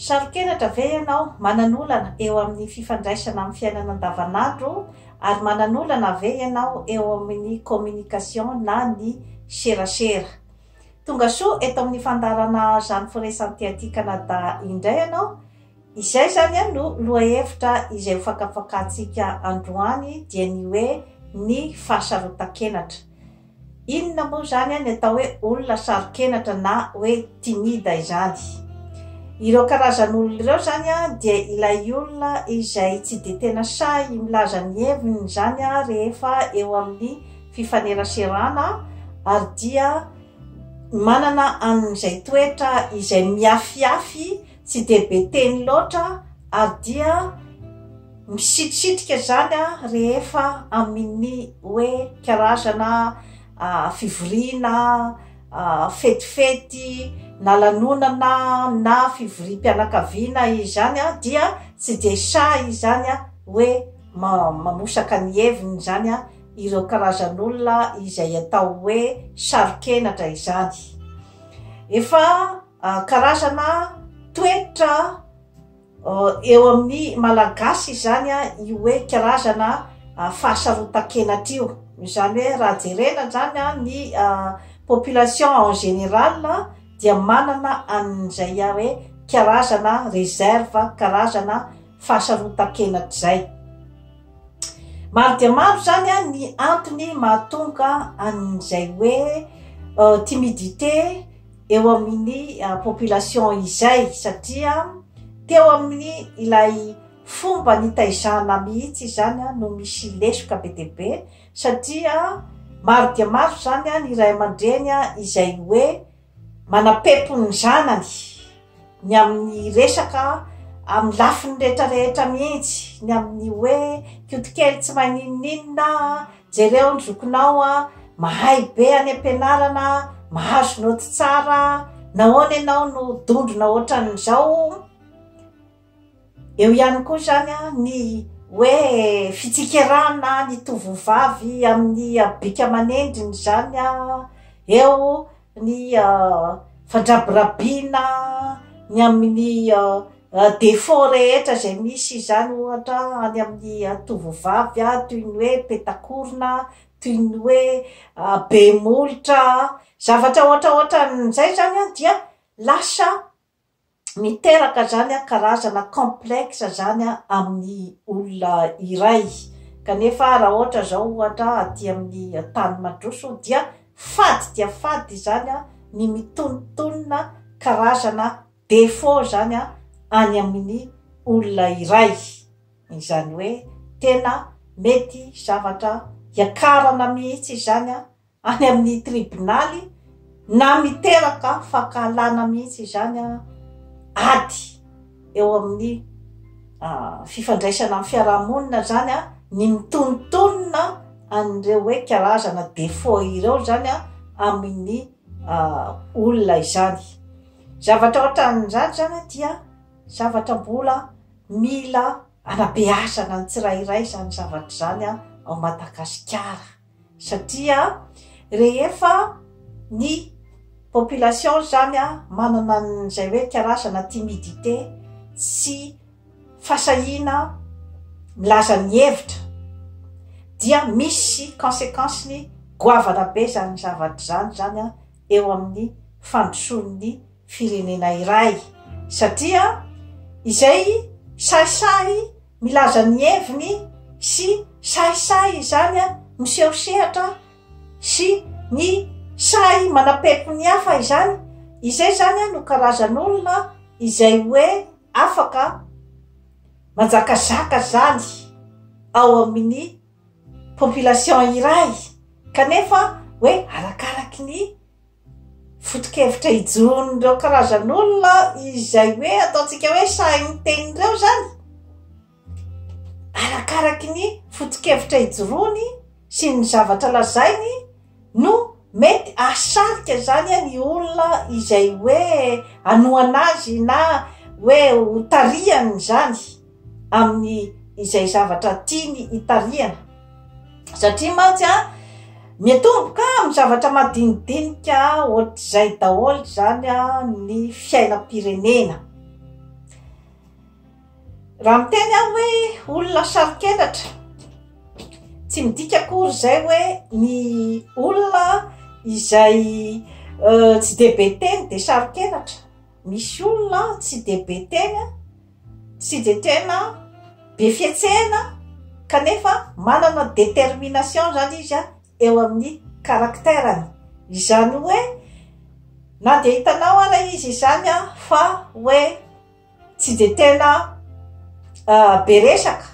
Saro-kenatra ve ianao? Manana olana eo amin'ny fifandraisana amin'ny fiainana andavanandro ary manana olana ve ianao eo amin'ny communication na ny serasera? Tonga soa eto amin'ny fandaharana Zany Firesan'ity aty Canada indray ianao. Izay izany no lohahevitra izay ho fakafakantsika androany dia ny hoe ny fahasarotan-kenatra. Inona moa izany ny atao hoe olona saro-kenatra na hoe timida izany? Ireo karazan'olona ireo izany dia ilay olona izay tsy dia tena sahy milaza ny heviny izany rehefa eo amin'ny fifaneraserana ary dia manana an'izay toetra izay miafiafy Tsy dia be teny loatra ary dia misitrisitrika izany rehefa amin'ny hoe karazana fivoriana, fetifety na lanonana na fivoriam-pianakaviana izany dia tsy dia sahy izany hoe mamosaka ny heviny izany ireo karazan'olona izay atao hoe saro-kenatra izany. Efa. Ah, karazana toetra ah, eo amin'ny malagasy izany a, ah, io hoe karazana fahasarotan-kenatra io. Izany hoe raha jerena izany a ny population en général dia manana an'izay a hoe karazana réserve, karazana fahasarotan-kenatra izay. Maro dia maro izany a ny antony mahatonga an'izay hoe timidité, eo amin'ny population izay satria teo amin'ny ilay fomba nitaizana mihitsy izany no misy lesoka be dia be satria maro dia maro izany ny iray aman-dreny izay hoe manam-pepon' ny zanany ny amin'ny resaka amin'ny lafiny rehetra rehetra mihitsy ny amin'ny hoe kiotokely tsy mahay n'inon'inona Jereo ny zokinao a! Mahay be any am-pianarana, mahazo naoty tsara, nahoana ianao no dondrona hoatran'izao? Eo ihany koa izany ny hoe fitsikerana ny tovovavy amin'ny habika aman'endriny izany eo. ny fandrabirabiana ny amin'ny défaut rehetra izay misy izany ohatra any amin'ny tovovavy toy ny hoe petakorona, toy ny hoe be molotra, zavatra ohatraohatran'izay izany dia lasa miteraka zany a karazana complexe zany a amin'ny olona iray kanefa raha ohatra zao ohatra aty amin'ny tany mandroso dia fady dia fady izany a ny mitonotonona karazana défaut zany a any amin'ny olona iray izany hoe tena mety zavatra hiakarana mihitsy izany a any amin'ny tribonaly na miteraka fankahalana mihitsy izany ady eo amin'ny fifandraisana amin'ny fiarahamonina zany ny mitonontonona an'ireo hoe karazana défaut ireo zany amin'ny olona izany zavatra ohatran'izany zany dia zavatra mbola mila anabeazana ny tsirairay izany zavatra izany ao Madagasikara satria rehefa ny population zany manana an'izay hoe karazana timidité sy fasahiana milaza ny hevitra dia misy consequence-ny goavana be zany zavatra zany zany eo amin'ny fandrosoan'ny firenena iray satria izay sahisahy milaza ny heviny sy sahisahy izany miseho sehatra sy ny sahy manapepy ny hafa izany, izay zany no karazan'olona izay hoe afaka manjakazaka zany ao amin'ny population iray kanefa hoe arakaraky ny Foto-kevitra ijoron'ireo karazan'olona izay hoe ataontsika hoe sahy miteny ireo izany, arakaraky ny foto-kevitra ijoroany sy ny zavatra lazainy no mety hahasarika izany ny olona izay hoe hanohana azy na hoe ho tarihany izany. amin'ny izay zavatra tiany hitarihana satria mantsy a miatomboka amin'ny zavatra madinidinika ohatr'izay daholo zany a ny fiainam-pirenena raha miteny aho hoe olona saro-kenatra tsy midika akory zay hoe ny olona izay euh, tsy de be teny de saro-kenatra misy olona tsy de be teny a Tsy dia tena be fihetsehana kanefa manana détermination izany izy an, eo amin'ny caractère-ny. Izany hoe na dia hitanao ara izy izany an fa hoe tsy dia tena be resaka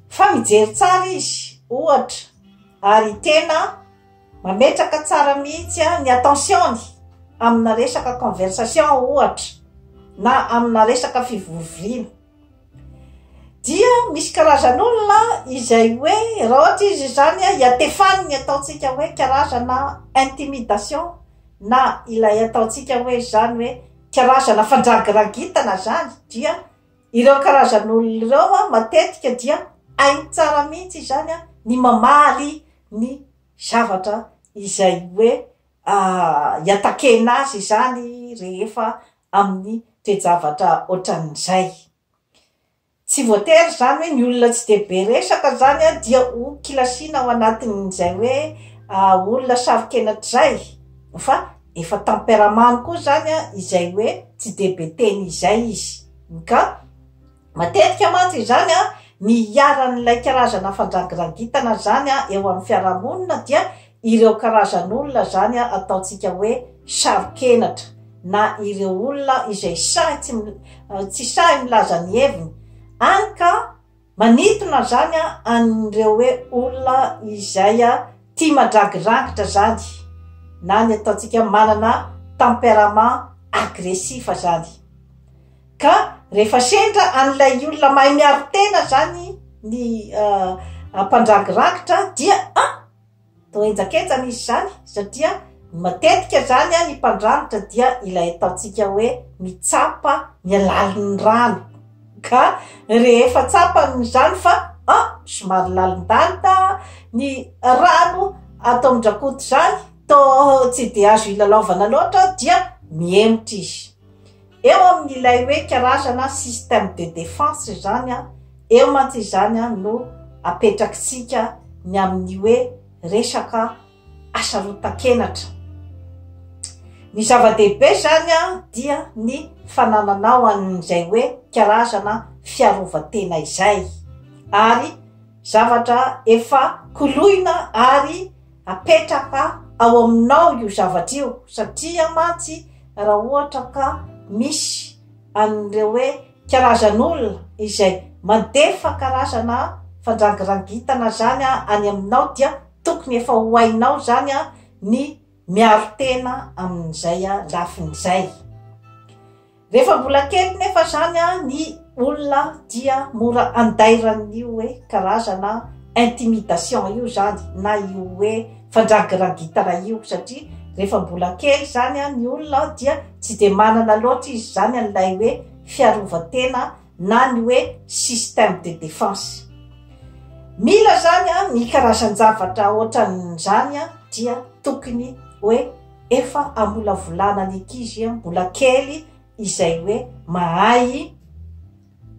fa mijery tsara izy ohatra ary tena. Mametraka tsara mihitsy ny attention-ny amina resaka conversation ohatra na amina resaka fivorivorina. Dia misy karazan'olona izay hoe raha ohatra izy izany iatefany ny ataontsika hoe karazana intimidation na ilay ataontsika hoe izany hoe karazana fandragiragitana izany dia Ireo karazan'olona ireo matetika dia hainy tsara mihitsy izany ny mamaly ny zavatra izay hoe iatakena azy izany rehefa amin'ny toe-javatra ohatran'izay. Tsy voatery izany hoe ny olona tsy dia be resaka izany dia ho kilasiana ao anatin'izay hoe olona saro-kenatra izay fa. Efa temperamany koa zany a izay hoe tsy de be teny izay izy. Ka matetika mantsy izany a ny iharan'ilay karazana fandrangirangitana zany a eo amin'ny fiarahamonina dia ireo karazan'olona zany a ataontsika hoe saro-kenatra na ireo olona izay sahy tsy tsy sahy milaza ny heviny any ka Manintona zany an'ireo hoe olona izay tia mandragirangitra zany na ny ataontsika manana tempérament agressif zany ka rehefa sendra an'ilay olona mahay miaro tena zany ny mpandragirangitra dia a! Toa henjak'enjana izy izany satria matetika izany ny mpandranitra dia ilay ataontsika hoe mitsapa ny alalin'ny rano ka rehefa tsapany izany fa a somary lalindalina ny rano ato amin-dRakoto izany toa tsy dia azo ilalaovana loatra dia mihemotra izy. Eo amin ilay hoe karazana système de défense izany an, eo mantsy izany an no apetrakitsika ny amin ny hoe resaka hasarotan-kenatra. Ny zava-dehibe izany an dia ny fanananao an izay hoe karazana fiarovan-tena izay, ary zavatra efa koloina ary Apetraka ao aminao io zavatra io satria mantsy raha ohatra ka misy an'ireo hoe karazan'olona izay mandefa karazana fandrangirangitana zany any aminao dia tokony efa ho hainao zany ny miaro tena amin'izay lafiny izay. Rehefa mbola kely nefa zany ny olona dia mora andairan'ny hoe karazana intimidation io zany na io hoe fandragiragitana io satria rehefa mbola kely zany ny olona dia tsy de manana loatra izy zany an'ilay hoe fiarovan-tena na ny hoe système de défense. Mila zany an ny karazan-javatra ohatran'izany an dia tokony hoe efa amolavolana ny ankizy an mbola kely izay hoe mahay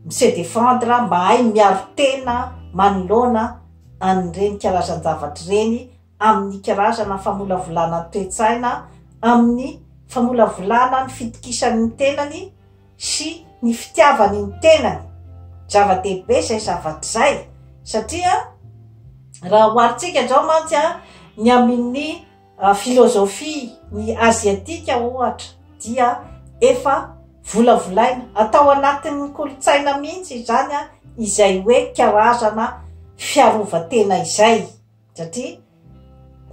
mi-se défendre, mahay miaro tena manoloana an'ireny karazan-javatra ireny amin'ny karazana famolavolana ny toe-tsaina, amin'ny famolavolana ny fitokisan'ny tenany, sy ny fitiavany ny tenany. Zava-dehibe izay zavatra izay satria raha oharintsika izao mantsy ny amin'ny filozofia ny aziatika ohatra dia efa volavolaina, atao anatin'ny kolontsaina mihitsy izany izay hoe karazana fiarovan-tena izay. Satria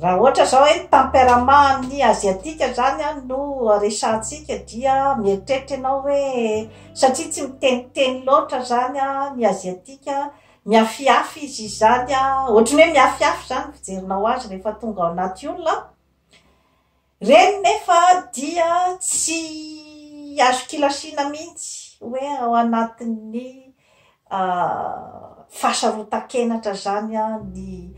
raha ohatra izao hoe ny tempérament ny asiatique izany an no resahantsika dia mieritreritra ianao hoe satria tsy miteniteny loatra izany an ny asiatique mihafihafy izy izany an, ohatran'ny hoe mihafihafy izany ny fijerinao azy rehefa tonga ao anaty olona an, Ireny nefa dia tsy azo kilasiana mihitsy hoe ao anatin'ny fahasarotan-kenatra izany ny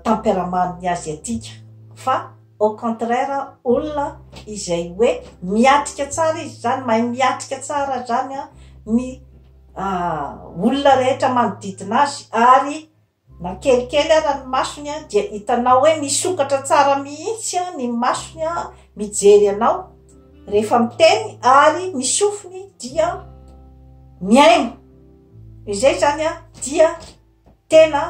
temperamentn'ny Aziatika fa au contraire olona izay hoe miatrika tsara izy izany, mahay miatrika tsara izany ny olona rehetra manodidina azy ary Na kelikely ara ny masony an dia hitanao hoe misokatra tsara mihitsy an ny masony an mijery anao rehefa miteny ary ny sofiny dia miaina izay zany an dia tena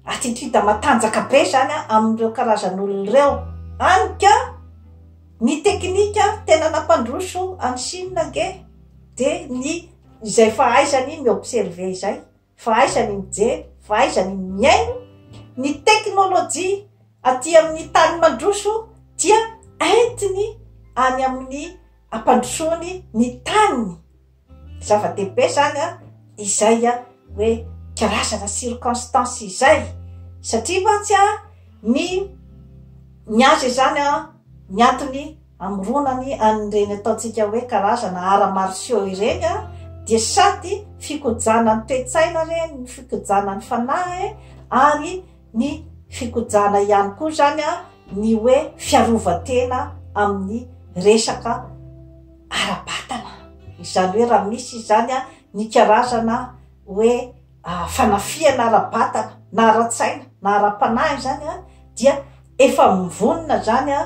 atitida matanjaka be zany an amin'ireo karazan'olona ireo any ka ny teknika tena nampandroso any Chine ange dia ny izay fahaizany mi observer izay fa aiza ny mijery fa aiza ny mihaino ny teknolojia aty amin'ny tany mandroso dia entiny any amin'ny ampandrosoany ny taniny zava-dehibe zany a izay a hoe karazana circonstance izay satria mantsy a ny ny azy izany a ny antony Amoronany an'ireny ataontsika hoe karazana arts martiaux ireny dia sady fikojana ny toe-tsaina re ny fikojana ny fanahy e, ary ny fikojana ihany koa izany ny hoe fiarovan-tena amin'ny resaka ara-batana, izany hoe raha misy izany ny karazana hoe fanafihana ara-batana na ara-tsaina na ara-panahy zany a dia efa mivonona zany a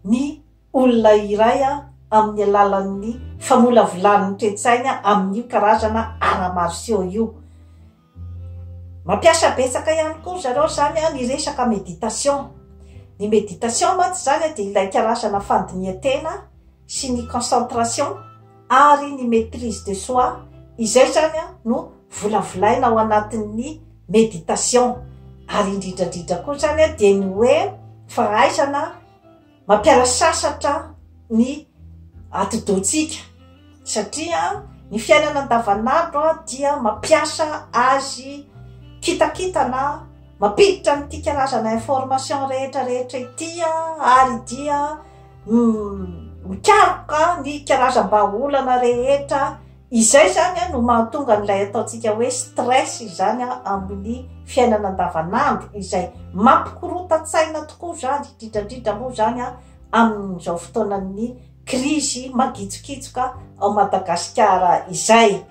ny olona iray a amin'ny alalan'ny famolavolany toetsaina amin'io karazana ara-marseo io mampiasa betsaka ihany koa zareo zany a ny resaka meditation ny meditation mantsy zany a dia ilay karazana fandinihan-tena sy ny concentration ary ny maitrise de soi izay zany no volavolaina ao anatin'ny meditation ary indrindrandridra koa zany dia ny hoe fahaizana mampiala sasatra ny atidohantsika satria ny fiainana andavanandro dia mampiasa azy kitakitana mampiditra an'ity karazana information rehetra rehetra ity ary dia mikaroka ny karazam-bahaolana rehetra izay zany a no mahatonga an'ilay ataontsika hoe stress izany a amin'ny fiainana andavanandro izay mampikorontan-tsaina tokoa zany indrindrandrindra moa zany a amin'izao fotoanan'ny krizy mangitsokitsoka ao madagasikara izay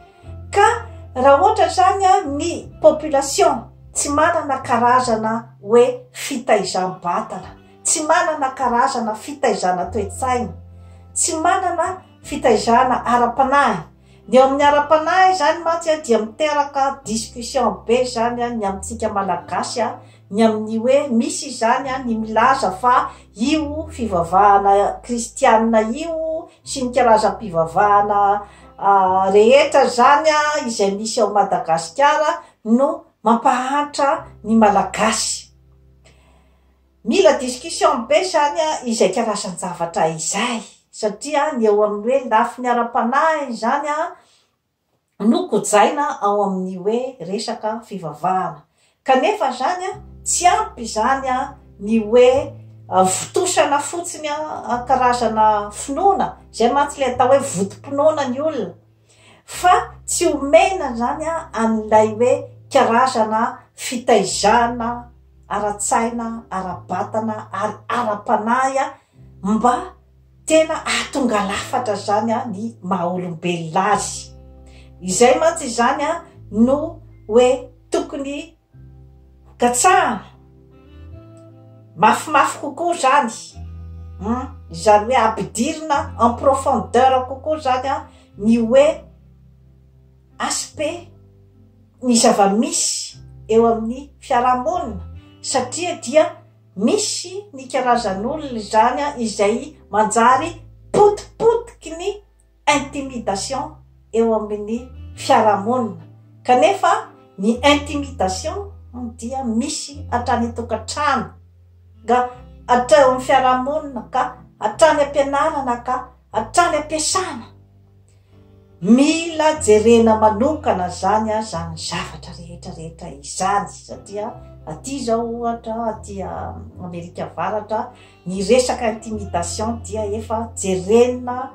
ka raha ohatra zany a ny population tsy manana karazana hoe fitaizam-batana tsy manana karazana fitaizana toe-tsaina, tsy manana fitaizana ara-panahy, ny eo amin'ny ara-panahy izany mantsy a dia miteraka discussion be izany a ny amintsika Malagasy a, ny amin'ny hoe misy izany a ny milaza fa io fivavahana kristianina io sy ny karazam-pivavahana rehetra izany a izay misy ao Madagasikara no mampahantra ny Malagasy. Mila discussion be izany izay karazan-javatra izay, satria ny eo amin'ny hoe lafiny ara-panahy izany no kojaina ao amin'ny hoe resaka fivavahana. Kanefa izany tsy ampy izany ny hoe vontosana fotsiny karazana finoana, izay mantsy ilay atao hoe vontom-pinoana ny olona. fa tsy omena izany an'ilay hoe karazana fitaizana ara-tsaina, ara-batana ary ara-panahy mba tena hahatonga lafatra izany ny maha olombelona azy. Izay mantsy izany no hoe tokony. Katsahana mafimafy kokoa zany an, izany hoe ampidirina en profondeur kokoa zany an ny hoe aspect ny zava-misy eo amin'ny fiaraha-monina satria dia misy ny karazan'olona izany an izay manjary potipotiky ny intimidation eo amin'ny fiarahamonina kanefa ny intimidation dia misy hatrany an-tokantrano ka hatrany amin'ny fiarahamonina ka hatrany am-pianarana ka hatrany am-piasana. Mila jerena manokana izany izany zavatra rehetra rehetra izany satria aty izao ohatra aty Amerika Avaratra Ny resaka intimidation dia efa jerena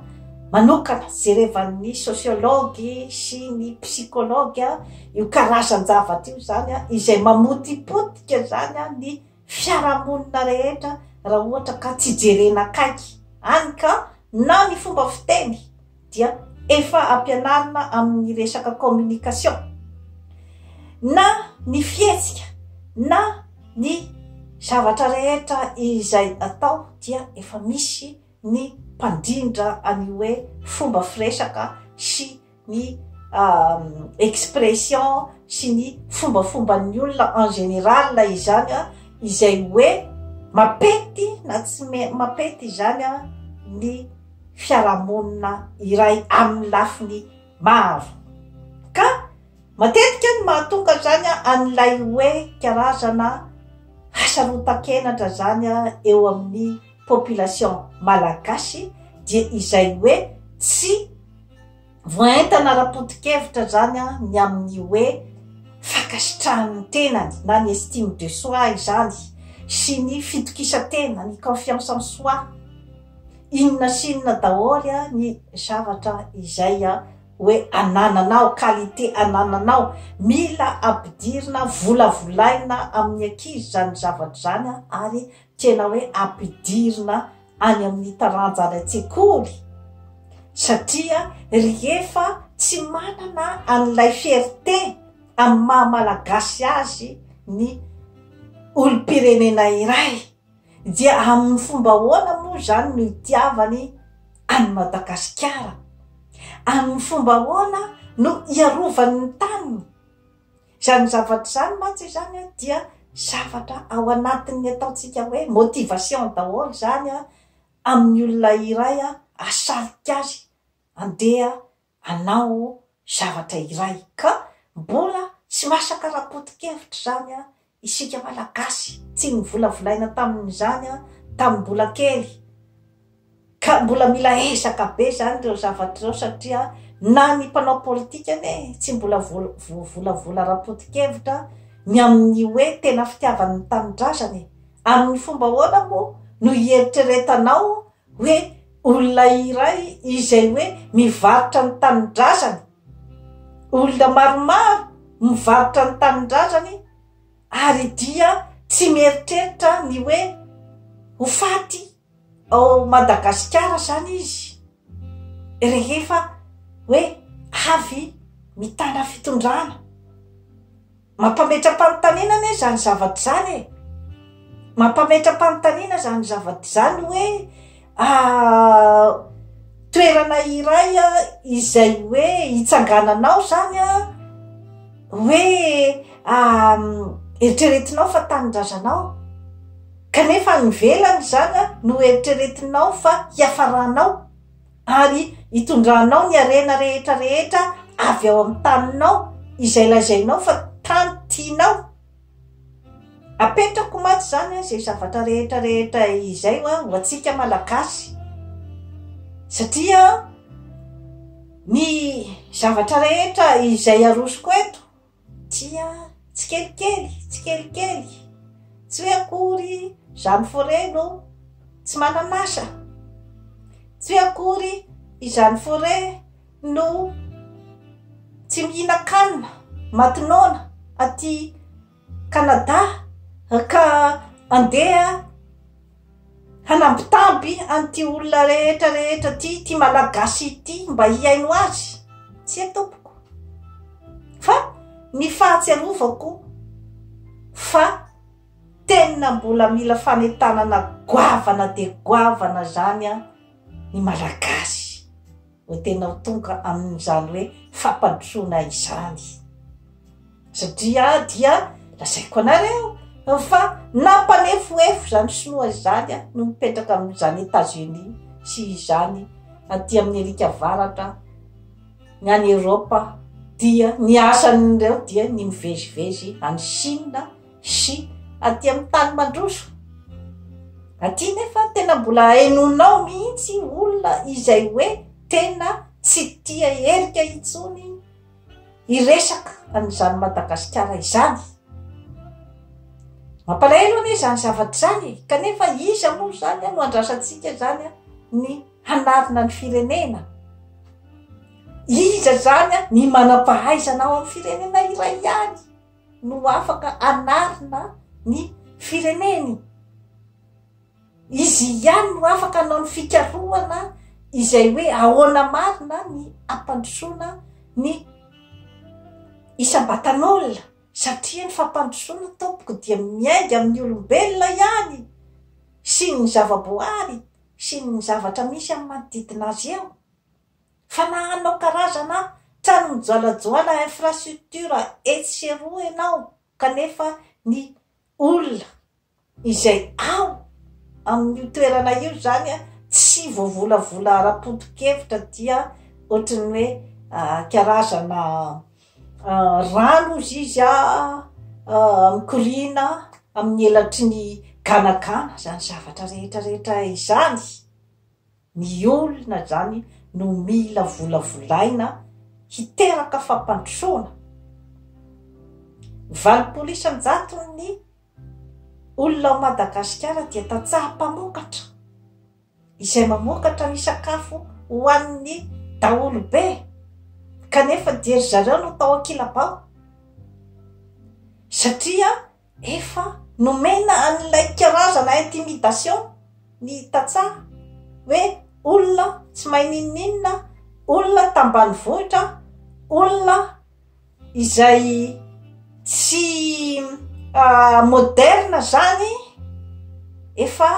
manokana, jerevan'ny sociologue sy ny psychologue io karazan-javatra io zany an, izay mamotipotika zany an ny fiarahamonina rehetra raha ohatra ka tsy jerena akaiky, hany ka na ny fomba fiteny, dia efa ampianarina amin'ny resaka communication na ny fihetsika na ny zavatra rehetra izay atao dia efa misy ny mpandrindra any hoe fomba firesaka sy ny euh, expression sy ny fombafomban'ny olona en général izany a izay hoe mapety na tsy mapety izany a ny fiarahamonina iray amin'ny lafiny maro. Ka matetika ny mahatonga izany an'ilay hoe karazana hasarotan-kenatra izany eo amin'ny population malagasy dia izay hoe tsy Voaentana ara-poto-kevitra izany ny amin'ny hoe fankasitrahany ny tenany na ny estime de soi izany sy ny fitokisan-tena, ny confiance en soi. Inona sy inona daholo ny zavatra izay hoe anananao, qualité anananao. Mila ampidirina, volavolaina amin'ny ankizy izany zavatra izany ary tena hoe ampidirina any amin'ny taranja any an-tsekoly satria rehefa tsy manana an'ilay fierté amin'ny maha malagasy azy ny olom-pirenena iray dia amin'ny fomba ahoana moa izany no itiavany any Madagasikara amin'ny fomba ahoana no hiarovany ny taniny Izany zavatra izany mantsy izany dia zavatra ao anatin'ny ataontsika hoe motivation daholo izany amin'ny olona iray hasarika azy handeha hanao zavatra iray. Ka mbola tsy masaka ara-poto-kevitra izany isika Malagasy. Tsy novolavolaina tamin'izany tamin'ny mbola kely. Ka mbola mila ezaka be zany reo zavatra reo satria na ny mpanao politika anie tsy mbola voavolavola ara-poto-kevitra ny amin'ny hoe tena fitiavany ny tanindrazana e! Amin'ny fomba ahoana moa no hieritreretanao hoe olona iray izay hoe mivarotra ny tanindrazany, olona maromaro mivarotra ny tanindrazany ary dia tsy mieritreritra ny hoe ho faty ao Madagasikara izany izy rehefa hoe avy mitana fitondrana. Mampametra-panontaniana anie izany zavatra izany e! Mampametra-panontaniana izany zavatra izany hoe toerana iray izay hoe hitsangananao izany an, hoe eritreretinao fa tanindrazanao. Kanefa any ivelany izany no hoeritreretinao fa hiafaranao ary hitondranao ny harena rehetra rehetra avy ao amin'ny taninao izay lazainao fa tany tianao. Apetrako mantsy izany izay zavatra rehetra rehetra izay ho antsika Malagasy satria ny zavatra rehetra izay arosoko eto Tsia, tsikelikely, tsikelikely, tsy hoe akory izaho miforehy no tsy manan'asa, tsy hoe akory izaho miforehy no tsy mihinan-kanina matinona aty Canada ka andeha Hanambitamby an'ity olona rehetra rehetra ity ity malagasy ity mba hihaino azy? Tsia tompoko. Fa ny fahatsiarovako fa tena mbola mila fanentanana goavana dia goavana zany ny malagasy. no tena ho tonga amin'izany hoe fampandrosoana izany. Satria dia lazaiko anareo fa nampanefoefo izany sinoa izany a, no mipetraka amin'izany Etats-Unis sy izany aty amin'ny Eric Avaratra, ny any Europe dia ny asan'ireo dia ny mivezivezy any Chine, sy aty amin'ny tany mandroso aty nefa tena mbola hainonao mihitsy olona izay hoe tena tsy tia herika intsony hiresaka an'izany madagasikara izany mampalahelo anie izany zavatra izany e kanefa iza moa izany no andrasantsika izany a ny hanarina ny firenena iza izany a ny manam-pahaizana ao amin'ny firenena iray ihany no afaka anarina ny fireneny. Izy ihany no afaka anao ny fikarohana izay hoe ahoana marina ny ampandrosoana ny isam-batan'olona satria ny fampandrosoana tompoko dia miainga amin'ny olombelona ihany sy ny zavaboary sy ny zavatra misy amin'ny manodidina azy eo. Fa na hanao karazana trano mijalajoala infrastructure etsy sy eroa ianao kanefa ny olona izay ao amin'io toerana io izany tsy voavolavola ara-poto-kevitra dia ohatran'ny hoe karazana rano hozy izy mikoriana amin'ny elatry ny ganagana izany zavatra rehetra rehetra izany. Ny olona izany no mila volavolaina hiteraka fampandrosoana. Valopolo isan-jaton'ny olona ao Madagasikara dia tantsaha mpamokatra, izay mamokatra ny sakafo ho an'ny daholobe, kanefa dia ry zareo no tao an-kilabao, satria Efa nomena an'ilay karazana intimidation ny tantsaha hoe olona tsy mahay n'inon'inona, olona tambanivohitra, olona izay tsy moderne zany, efa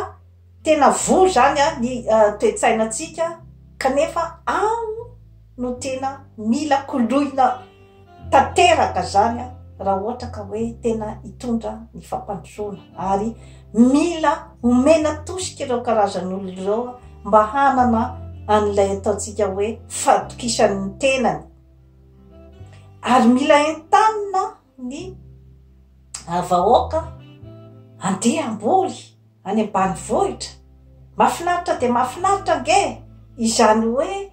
tena voa zany ny toetsainantsika kanefa ao no tena mila koloina tanteraka zany a raha ohatra ka hoe tena hitondra ny fampandrosoana ary mila omena tosika ireo karazan'olona ireo mba hanana an'ilay ataontsika hoe fahatokisan'ny tenany ary mila entanina ny vahoaka andeha amboly any ambanivohitra mahafinaritra dia mahafinaritra ange izany hoe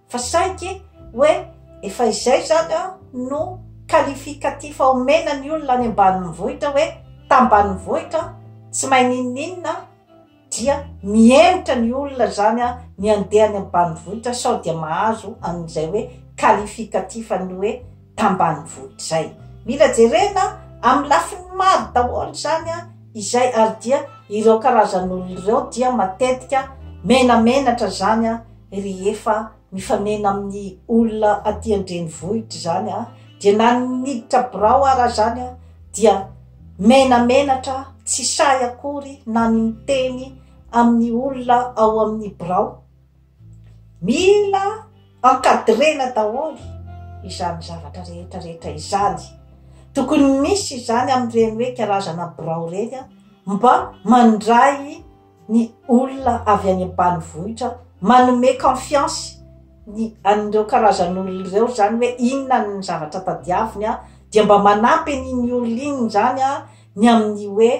fa saiky hoe efa izay izany an no qualificatif omena ny olona any ambanivohitra hoe tambanivohitra an, tsy mahay n'inon'inona an, dia mihemotra ny olona izany an ny handeha any ambanivohitra sao dia mahazo an'izay hoe qualificatif an'ny hoe tambanivohitra izay. Mila jerena amin'ny lafiny maro daholo izany izay ary dia ireo karazan'olona ireo dia matetika menamenatra izany rehefa mifanena amin'ny olona aty an-drenivohitra izany dia na ny miditra birao ara izany dia menamenatra tsy sahy akory na ny miteny amin'ny olona ao amin'ny birao. Mila encadrena daholo izany zavatra rehetra rehetra izany. Tokony misy izany amin'ireny hoe karazana birao ireny mba mandray ny olona avy any ambanivohitra, manome confiance ny an'ireo karazan'olona ireo izany hoe inona ny zavatra tadiaviny dia mba manampy an'iny olona iny izany ny amin'ny hoe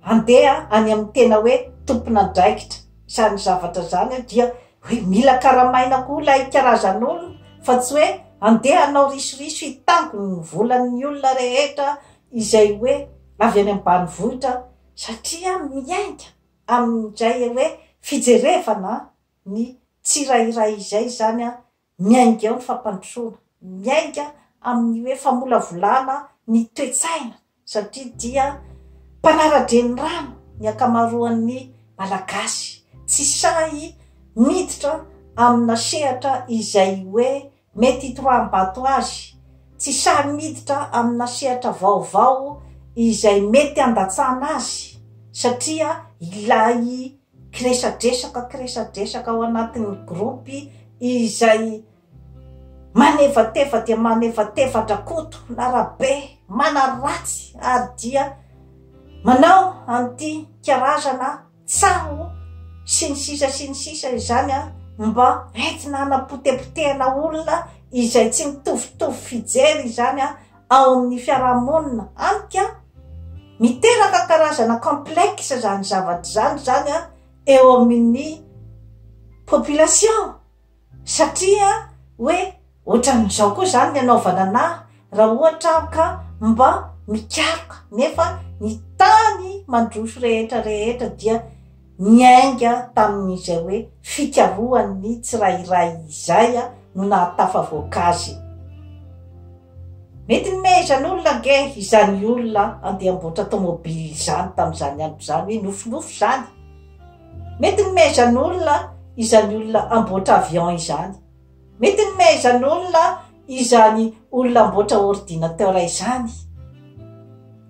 Handeha any amin'ny tena hoe tompon'andraikitra izany zavatra izany aho dia hoe mila karamaina koa ilay karazan'olona fa tsy hoe handeha hanao risoriso hitango ny volan'ny olona rehetra izay hoe avy any ambanivohitra satria miainga amin'izay hoe fijerevana ny tsirairay izay izany Miainga eo ny fampandrosoana, miainga amin'ny hoe famolavolana ny toe-tsaina satria dia mpanara-drenirano ny ankamaroan'ny Malagasy, tsy sahy miditra amina sehatra izay hoe mety hitoraham-bato azy, tsy sahy miditra amina sehatra vaovao izay mety handatsana azy satria ilay kiresadresaka kiresadresaka ao anatin'ny groupe izay manevateva dia manevateva an-dRakoto na Rabe manaratsy ary dia manao an'ity karazana tsaho sy ny sisa sy ny sisa izany a mba entina hanapotepotehana olona izay tsy mitovitovy fijery izany a ao amin'ny fiarahamonina amiko an, miteraka karazana complexe izany zavatra izany izany an eo amin'ny population satria hoe ohatran'izao koa izany ny anaovana anà raha ohatra aho ka mba mikaroka nefa ny tany mandroso rehetra rehetra dia Niainga tamin'izay hoe fikarohan'ny tsirairay izay no nahatafavoaka azy. Mety nomehezan' olona ange izany olona handeha hamboatra tômôbily izany tamin'izany andro izany hoe nofinofy izany. Mety nomehezan' olona izany olona hamboatra avion izany. Mety nomehezan'olona izany olona hamboatra ordinateur izany,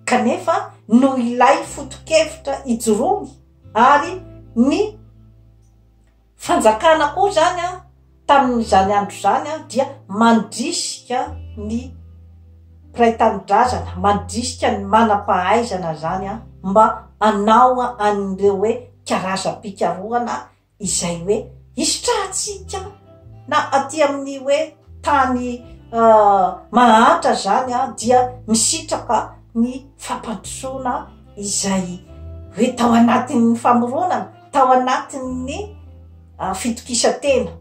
kanefa noho ilay foto-kevitra ijoroany ary ny fanjakana koa izany tamin'izany andro izany dia mandrisika ny mpiray tanindrazana, mandrisika ny manam-pahaizana izany mba hanao an'ireo hoe karazam-pikarohana izay hoe hisitrahantsika na aty amin'ny hoe tany mahantra izany a dia misitraka ny fampandrosoana izay hoe tao anatin'ny famoronana tao anatin'ny fitokisantena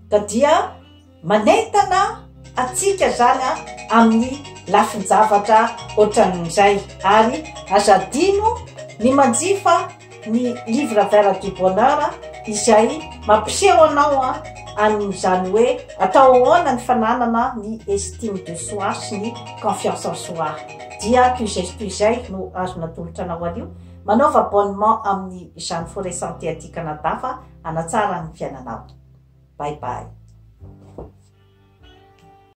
ka dia Manentana antsika zany a amin'ny lafin-javatra ohatran'izay ary aza adino ny manjifa ny livre vert du bonheur izay mampiseho anao an'izany hoe atao ahoana ny fananana ny estime de soi sy ny confiance en soi dia ko izay toy izay no azo natolotra anao anio manaova abonnement amin'izany foret santé aty Canada fa hanatsara ny fiainanao. Bye bye.